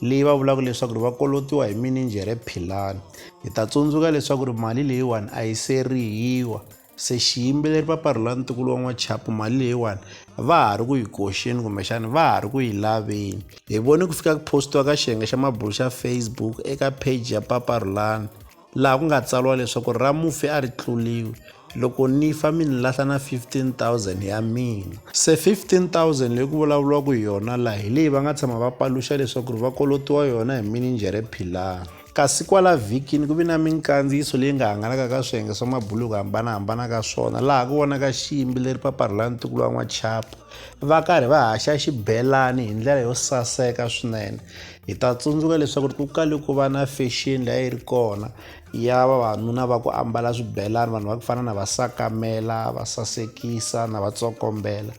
leyi va vulaka leswaku ri va kolotiwa hi mininjhere philani hi ta tsundzuka leswaku ri mali leyiwani a yi se rihiwa se xiyimbeleri paparhula ntukulu wa n'wachapu mali leyiwani va ha ri ku yi koxeni kumbexana va ha ri ku yi laveni hi vone ku fika ku postiwa ka xiyenge xa mabulo xa facebook eka page ya paparhulani laha ku nga tsariwa leswaku ra mufi a ri tluliwi loko ni fa mi ni lahla na 15000 ya mina se 15000 leyi ku vulavuriwaka hi yona laha hi leyi va nga tshama va paluxa leswaku ri va kolotiwa yona hi mininjhere philani kasi kwala vhikini ku vi na minkandziyiso leyi nga hangalaka ka swiyenge swa mabuluku hambanahambana ka swona laha ku vonaka xiyimbi leri paparhula ntukulu wa n'wachapa va karhi va haxa xibelani hi ndlela yo saseka swinene hi ta tsundzuka leswaku ku kale ku va na fashion leyi a yi ri kona ya vavanuna va ku ambala swibelani vanhu va ku fana na va sakamela va sasekisa na va tsokombela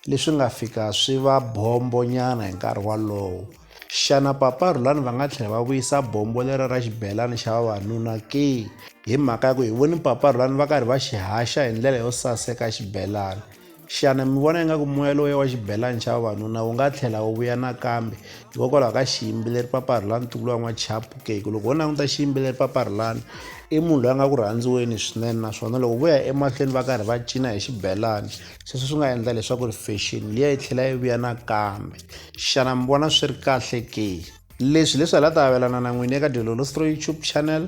leswi nga fika swi va bombo nyana hi nkarhi walowo xana papa rhulani va nga tlhela va vuyisa bombo lero ra xibelani xa vavanuna ke hi mhaka ya ku hi voni papa rhulani va karhi va xi haxa hi ndlela yo saseka xibelani Xana mi vona ingaku moya lowuya wa xibelani xa vavanuna wu nga tlhela wu vuya nakambe hikokwalaho ka xiyimbeleri paparhulani ntukulu wa n'wachapu ke ku loko wo languta xiyimbeleri paparhulani i munhu loyi a nga ku rhandziweni swinene naswona loko vo ya emahlweni va karhi va cina hi xibelani sweswo swi nga endla leswaku ri fashion liya yi tlhela yi vuya nakambe xana mi vona swi ri kahle ke leswi leswi hi la ta avelana na n'wini eka dyololostro youtube channel